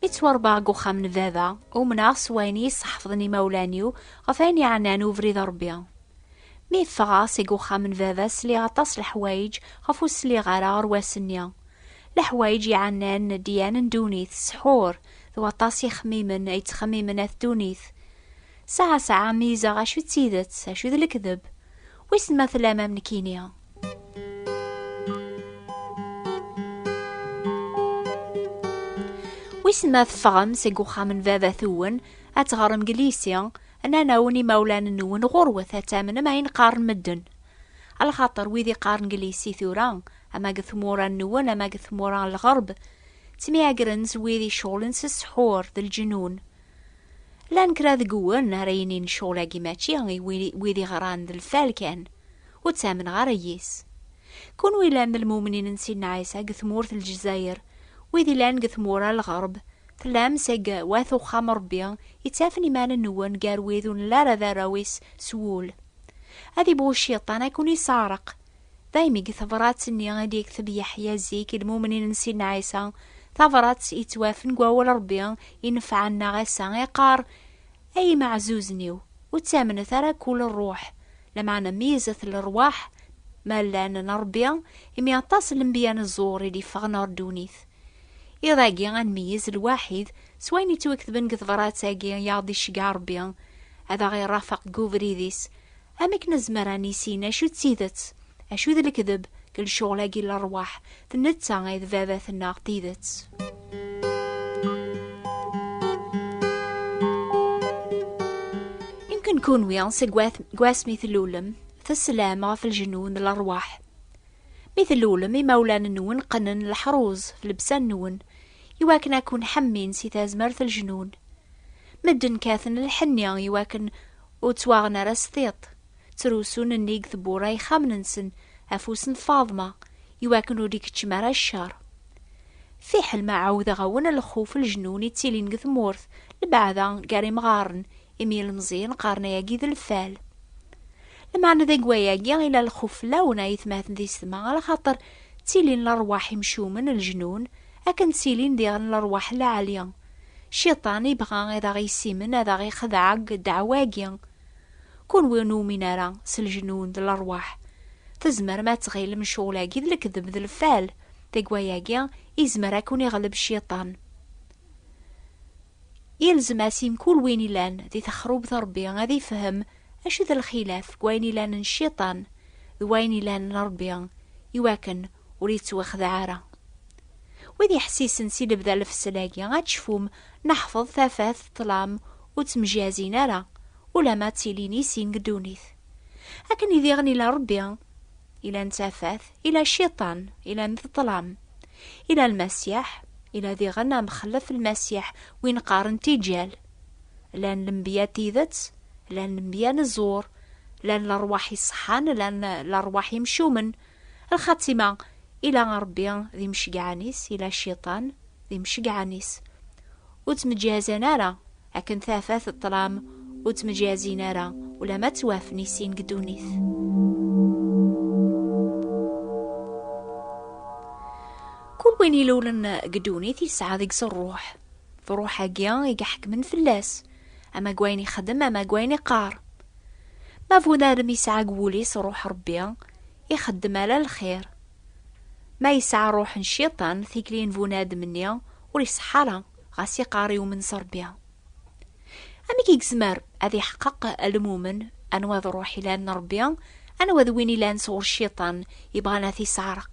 Mi ttwaṛebbaɣ deg uxxam n baba, umneɣ s wayen iyi-sḥefḍen imawlan-iw ɣef ayen yeɛnan ubrid n Ṛebbi. Mi ffɣeɣ seg uxxam n baba sliɣ aṭas leḥwayeǧ ɣef ur sliɣ ara aɣerwas-nni. Leḥwayeǧ yeɛnan dyan n ddunit, ssḥur, d waṭas ixemmimen ay ttxemmimen at ddunit. Sɛa sɛa meyyzeɣ acu d tidet, acu d lekdeb. Wissen ma tellam am nekini. Wissen ma teffɣem seg uxxam n baba-twen ad teɣrem deg lisi, nnan-awen imawlan-nwen ɣurwet ad tamnem ayen qqaren medden. Alxaṭer wid i qqaren deg lisi tura, ama deg tmura-nwen ama deg tmura n lɣerb, ttemyagren s wid iceɣlen s ssḥur d lǧenun. Llan kra deg wwen ara yinin ccɣel-agi mačči i wid iɣran d lfal kan, ur ttamneɣ ara yis. Kunwi llan d lmumnin n Sidna Ɛisa deg tmurt n Lezzayer, wid illan deg tmura n lɣerb, tellam seg Wat Uxxam n Rebbi yettafen iman-nwen gar wid ur nelli ara d arraw-is s wul. Ad ibɣu cciṭan ad ken-isseɛreq, Daymi deg tebṛat-nni i d-yekteb Yeḥya zik i lmumnin n Sidna Ɛisa, tabṛat yettwafen deg wawal n Ṛebbi inefɛen-aɣ ass-a, iqqar, Ay imeɛzuzen-iw, ur ttamnet ara akk ula ṛṛuḥ, lameɛna meyyzet lerwaḥ, ma llan, n Ṛebbi, imi aṭas n lembiya n ẓẓur i d-yeffɣen ɣer ddunit. Iḍ-agi ad nmeyyez lwaḥid s wayen yettwaketben deg tebṛat-agi i aɣ-d-iceggeɛ Ṛebbi, ad aɣ-iṛafeq deg ubrid-is, Am akken nezmer ad nissin acu d tidet, acu d lekdeb deg lecɣel-agi n lerwaḥ, d netta ay d baba-tneɣ tidet. Imken kunwi seg wasmi tlulem teslam ɣef lejnu n lerwaḥ. Mi tlulem, imawlan-nwen qqnen leḥruz ɣef llebsa-nwen iwakken ad ken-ḥemmin si tazmert n lejnun. Medden kkaten lḥenni iwakken Ur ttwaɣen ara s tiṭ, ttrusun nnig tewwura ixxamen-nsen afus n Faḍma i wakken ur d-ikeččem ara ccer. Fiḥel ma ɛawdeɣ-awen lxuf leǧnun i ttilin deg tmurt lbeɛda gar imɣaren imi ilmeẓyen qqaren ayagi d lfal. Lmeɛna deg wayagi ila lxuf fell-awen a yetmaten di setma ala xaṭer ttilin lerwaḥ imcumen, leǧnun, Akken ttilin diɣen lerwaḥ lɛali. Cciṭan ibɣa ad aɣ-yessimen ad aɣ-ixdeɛ deg ddeɛwa-agi. Kunwi ur numin ara s lejnun d lerwaḥ, tzemrem ad tɣilem ccɣel-agi d lekdeb d lfal, deg wayagi izmer ad ken-iɣleb cciṭan. Yelzem asi mkul win ilan di texrubt Rebbi ad ifhem acu d lxilaf deg wayen ilan n cciṭan d wayen ilan n Rebbi, iwakken ur yettwaxdeɛ ara. Wid yeḥsisen si lebda n lfesla-agi ad tecfum neḥfeḍ tafat d ṭṭlam ur ttemjazin ara ulamma ttilin i sin deg ddunit. Akken i diɣen ila Rebbi, ila n tafat, ila Cciṭan, ila n ṭṭlam, ila Lmasiḥ, ila diɣen amxellef n Lmasiḥ win qqaren Tijjal. Llan lenbiya n tidet, llan lenbiya n zzur, llan lerwaḥ iṣeḥḥan, llan lerwaḥ imcumen, Lxatima, ila Ṛebbi d imceggɛen-is, ila Cciṭan d imceggɛen-is. Ur ttmeǧǧiɛzan ara, akken tafat d ṭṭlam ur ttmeǧǧiɛzin ara, ulamma ttwafen i sin deg ddunit. Kul win ilulen deg ddunit yesɛa deg-s ṛṛuḥ, d ṛṛuḥ-agi i iḥekmen fell-as. Ama deg wayen ixeddem ama deg wayen iqqar. Ma bu narem yesɛa deg wul-is ṛuḥ Ṛebbi, ixeddem ala lxir. Ma yesɛa ṛuḥ n Cciṭan, tikli n bunadem-nni ur iṣeḥḥa ara, ɣas iqqar yumen s Ṛebbi. Amek i yezmer ad iḥeqqeq lmumen anwa d ṛuḥ ilan n Ṛebbi, anwa d win ilan sɣur Cciṭan ibɣan ad t-isseɛreq?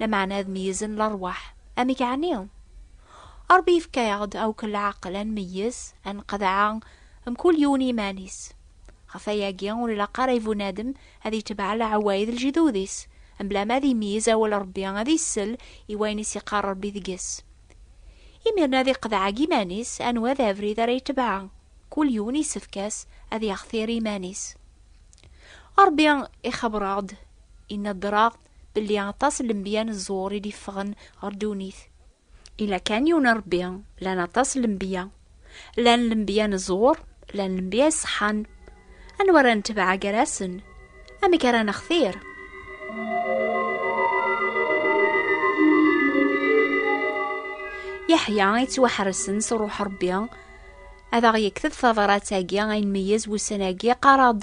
lameɛna ad meyyzen lerwaḥ. Amek ɛni? Ṛebbi yefka-aɣ-d akk leɛqel ad nmeyyez, ad nqeḍɛa, mkul yiwen iman-is. Ɣef wayagi, ur ilaq ara i bunadem ad itbeɛ leɛwayed n ljdud-is, mebla ma ad imeyyez awal n Ṛebbi, ad isell i wayen i s-iqqar Ṛebbi deg-s. Imiren ad iqeḍɛa deg iman-is anwa d abrid ara itbeɛ, kul yiwen isefk-as ad yextir iman-is. Ṛebbi ixebbeṛ-aɣ-d, ineddeṛ-aɣ-d, belli aṭas n lenbiya n ẓẓur i d-iffɣen ɣer ddunit. Ila kan yiwen n Rebbi, llan aṭas n lenbiya. Llan lenbiya n ẓẓur, llan lenbiya iṣeḥḥan. Anwa ara netbeɛ gar-asen? Amek ara nextir? Yeḥya yettwaḥresen s Ṛuḥ Ṛebbi ad aɣ-yekteb tabṛat-agi ay nmeyyez wussan-agi qqareɣ-d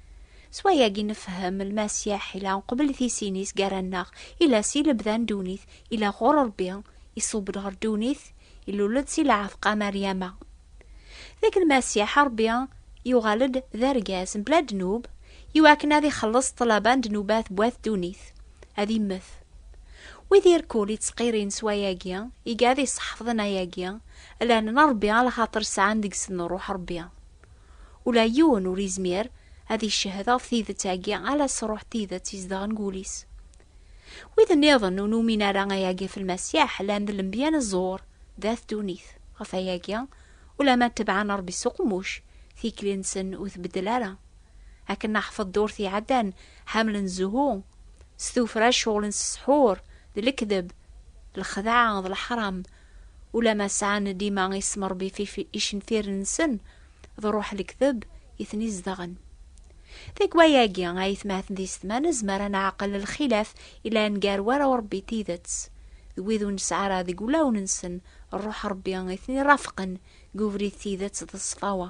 S wayagi nefhem Lmasiḥ ila qbel tisin-is gar-anneɣ, ila si lebda n ddunit, ila ɣur Rebbi, iṣubb-d ɣer ddunit, ilul-d si lɛefq-a Maryama. D akken Lmasiḥ a Rebbi yuɣal-d d argaz mebla ddnub, iwakken ad ixelleṣ ṭṭlaba n ddnubat n wat ddunit, ad immet. Wid irkul ittqirin s wayagi, iga ad iseḥfḍen ayagi, llan n Rebbi a lxaṭer sɛan deg-sen Ṛuḥ Ṛebbi. Ula d yiwen ur yezmir ad iccehhed ɣef tidet-agi ala s Ṛuḥ n tidet izedɣen deg wul-is. Wid nniḍen ur numin ara ayagi ɣef Lmasiḥ llan d lenbiya n ẓẓur d at ddunit. Ɣef wayagi, ulamma ttebbɛen Ṛebbi s uqemmuc, tikli-nsen ur tbeddel ara. Akken naḥfeḍ ddurt iɛeddan, ḥemmlen zzhu s tuffra, ceɣlen s ssḥur d lekdeb, lxedɛa d leḥram, ulamma sɛan dima ismerbif icenfiren-nsen d Ṛuḥ Lekteb i ten-izedɣen. Deg waya-agi, ayetmaten d yessetma, nezmer ad neɛqel lxilaf yellan gar warraw n Ṛebbi n tidet d wid ur nesɛi ara deg wulawen-nsen Ṛuḥ Ṛebbi i ten-irafqen deg ubrid n tidet d ṣṣfawa.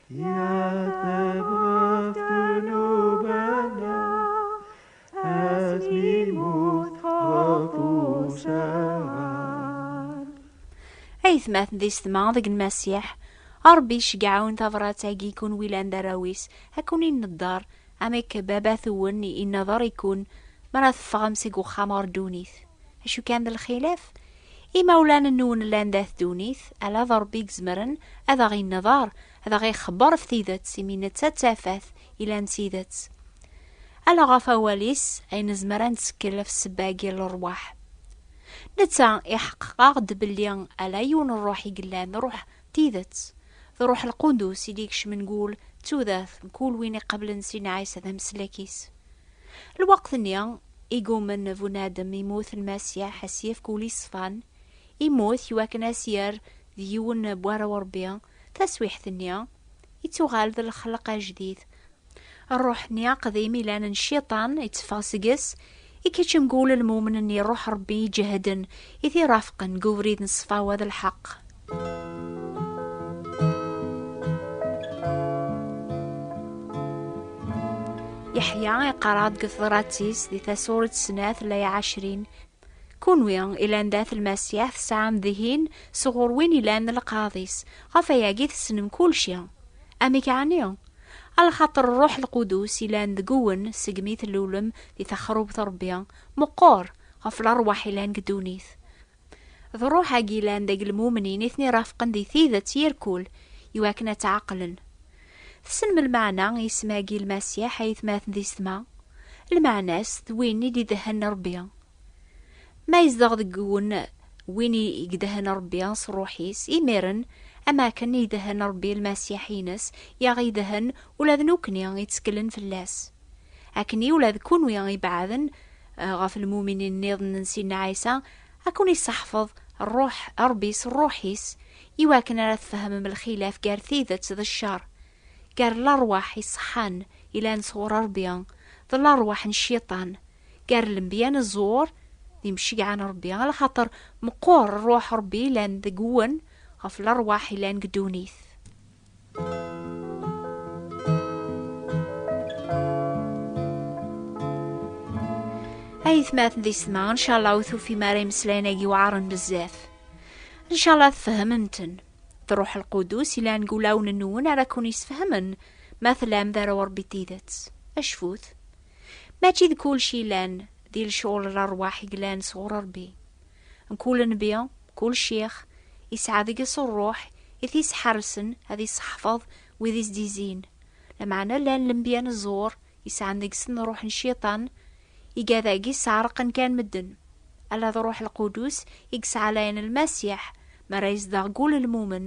aytmaten d yessetma deg n Masiḥ, Ṛebbi iceggeɛ-awen tabrat-agi i kunwi llan d arraw-is, ad ken-inedder, am akka Baba-twen inedder i kun, mi ara teffɣem seg uxxam ɣer ddunit. Acu kan d lxilaf, Imawlan-nwen llan dat ddunit, ala d Ṛebbi i izemren ad aɣ-inneḍer, ad aɣ-ixebber ɣef tidet, imi netta d tafat ilan d tidet. Ala ɣef awal-is ay nezmer ad nettekkel ɣef ssebba-agi n ṛṛwaḥ. Netta iḥeqqeq-aɣ-d belli ala yiwen n ṛṛuḥ i yellan, ṛṛuḥ n tidet. D Ṛṛuḥ Lqudus i d-ikecmen deg wul d tudert n kul win iqablen Sina Ɛisa d ameslak-is. Lweqt-nni, i gummen Bunadem immut Lmasiḥ a s-yefk ul yeṣfan, immut i wakken a s-yerr d yiwen n war Urebbi, taswiḥt-nni, ittuɣal d lexleq ajdid. Rruḥ-nni aqdim ilan n Cciṭan itteffeɣ seg-s, ikeččem g-ul lmumen n Iṛuḥ Ṛebbi iǧehden i t-irafqen g ubrid n ṣṣfawa d lḥeq. Yeḥya iqarad deg teḍrat-is di tasuret snat lay ɛecrin kunwi ilan dat lmasiḥ tesɛam dihin sɣur win ilan lqaḍ-is ɣef ayagi tessnem kulci amek ɛni alxaṭer ṛṛuḥ lqudus ilan deg-wen segmi tlulem di texrubt Ṛebbi meqqer ɣef lerwaḥ ilan deg ddunit D ṛṛuḥ-agi yellan deg lmumnin i ten-irafqen di tidet yir kul, i wakken ad tt-ɛeqlen. Tessnem lmeɛna n yisem-agi Lmasiḥ, ayetmaten d isetma? Lmeɛna-s d win i d-idehhen Ṛebbi. Ma yezdeɣ deg-wen win i idehhen Ṛebbi s ṛṛuḥ-is, imiren, am akken i idehhen Ṛebbi Lmasiḥ-ines, i aɣ-idehhen ula d nekkni, itteklen fell-as. akken i ula d kunwi ibeɛden eh, ɣef lmuminin nniḍen n Sidna Ɛisa ad ken-isseḥfeḍ ṛṛuḥ Ṛebbi s ṛṛuḥ-is iwakken ara tfehmem lxilaf gar tidet d cceṛ, gar lerwaḥ iṣeḥḥan ilan sɣur Ṛebbi d lerwaḥ n cciṭan, gar lenbiya n ẓẓur d imceggɛa n Ṛebbi, ala xaṭer meqqur ṛṛuḥ Ṛebbi ilan deg-wen ɣef lerwaḥ ilan deg ddunit. aytmaten di sma ncalla ur tufim ara imeslayen-agi weɛren bezzaf ncalla tfehmem-ten truḥ lqudus ilan deg wulawen-nwen ara kun-isfehmen ma tlam d ara urebbi tidet acfut mačči d kulci ilan di lecɣul n lerwaḥ i yellan sɣur rebbi Mkul nnbi, mkul ccix, yesɛa deg-s ṛṛuḥ i t-yesḥersen ad iṣeḥfeḍ wid i s-d-izzin. Lameɛna llan lembya n ẓẓur yesɛan deg-sen ṛṛuḥ n cciṭan, igad-agi sseɛreqen kan medden. Ala d Ṛṛuḥ Lqudus i yesɛalayen Lmasiḥ mi ara yezdeɣ deg wul n lmumen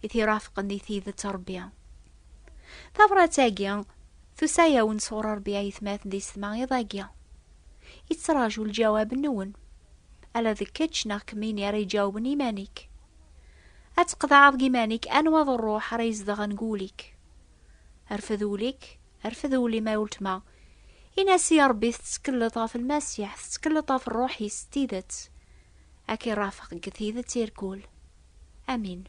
i t-irafqen di tidet n Ṛebbi. Tabṛat-agi tusa-yawen sɣur Ṛebbi ayetma tdis tma iḍ-agi. Ittraǧu lǧawab-nwen. Ala d kečč neɣ kemmini ara iǧawben iman-ik. Ad tqeḍɛeḍ deg iman-ik anwa d rruḥ ara izedɣen deg ul-ik. Rfed ul-ik, rfed ul-im a uletma. Ini-as i Ṛebbi tettekleḍ ɣef Lmasiḥ, tettekleḍ ɣef rruḥ-is s tidet. Ad k-irafeq deg tidet irkul. Amin.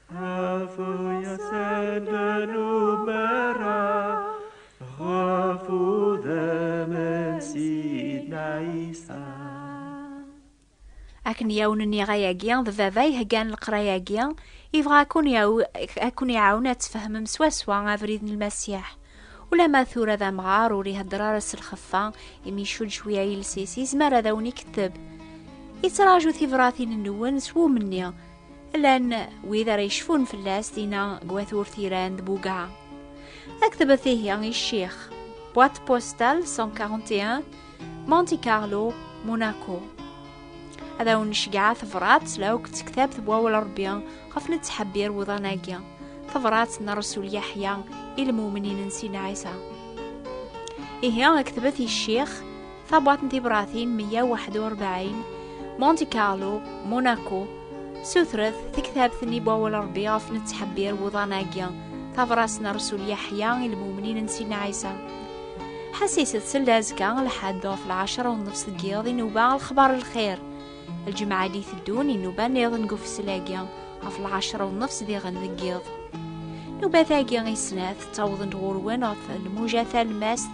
akken yawen nniɣ ayagi d baba iheggan leqrayagi ibɣa akun iɛawen ad tfehmem swaswa abrid n lmasiḥ ulama tura d amɣar ur ihedder ara s lxeffa imi icudd cwiya iles-is yezmer ad awen-iketteb ittraǧu tibratin-nwen s wumni llan wid ara yecfun fell-as dinna deg wat urtiran d buga aktebet ihi i ccix boîte postale 141 Monte Carlo Monaco ad awen-necgeɛ tebrat la akk d tektabt n wawal Rebbi ɣef nettḥebbir wuḍan-agi tebrat n Rasul Yeḥya i lmumnin n Sina Ɛisa ihi aktebet i ccix tabwaḍt n tibratin 141 Monte Carlo Monaco sutret tektabt-nni Bawel Rebbi ɣef nettḥebbir wuḍan-agi tabras n Rasul Yeḥya i lmumnin n Sina Ɛisa ḥasiset seld azekka lḥedd ɣef lɛecra u nnefs deg yiḍ inuba lexbar lxir lǧemɛa d iteddun inuba niḍen deg ufeslagi ɣef lɛecra u nnefs diɣen deg yiḍ nubat-agi i snat ttawḍen-d ɣur-wen ɣef lmuja talmast